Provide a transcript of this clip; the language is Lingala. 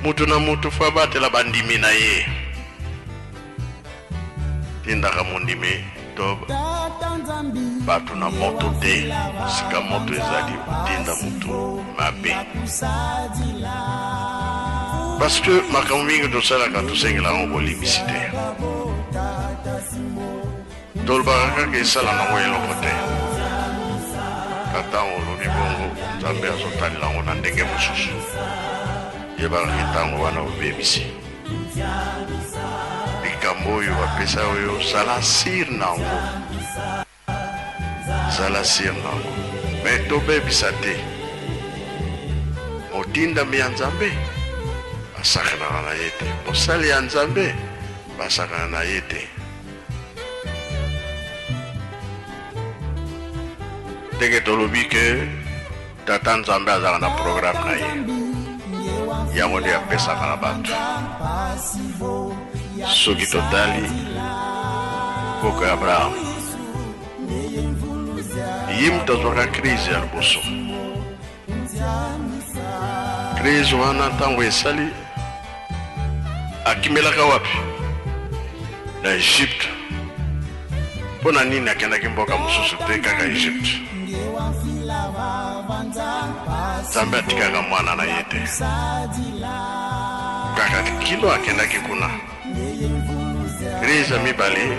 Mutu na mutu faut abatela ba ndimi na ye. Tindaka mondimi to batu na moto te. Sika moto ezali otinda mutu mabe. Parce que makambo mingi tosalaka tosengela yango bolimbisi te. Tolobaka kaka esala nango eloko te ka tango olobi bongo nzambe azo talela ngo na ndenge mosusu yebaka ke tango wana obebisi likambo oyo bapesa oyo sala sir nango zala sir nango me tobebisa te motindami ya nzambe asakanaka na ye te mosali ya nzambe basakana na ye te ndenge tolobi ke tata nzambe azalaka na programe na ye yango nde apesaka na bato soki totali koko ya abraham ye moto azwaka krize ya liboso Crise wana ntango esali akimelaka wapi? Na Egypte. Mpo na nini akendaki mboka mosusu te kaka Egypte? Nzambe atikaka mwana na ye te, kaka kino akendaki kuna. Crise ya mibale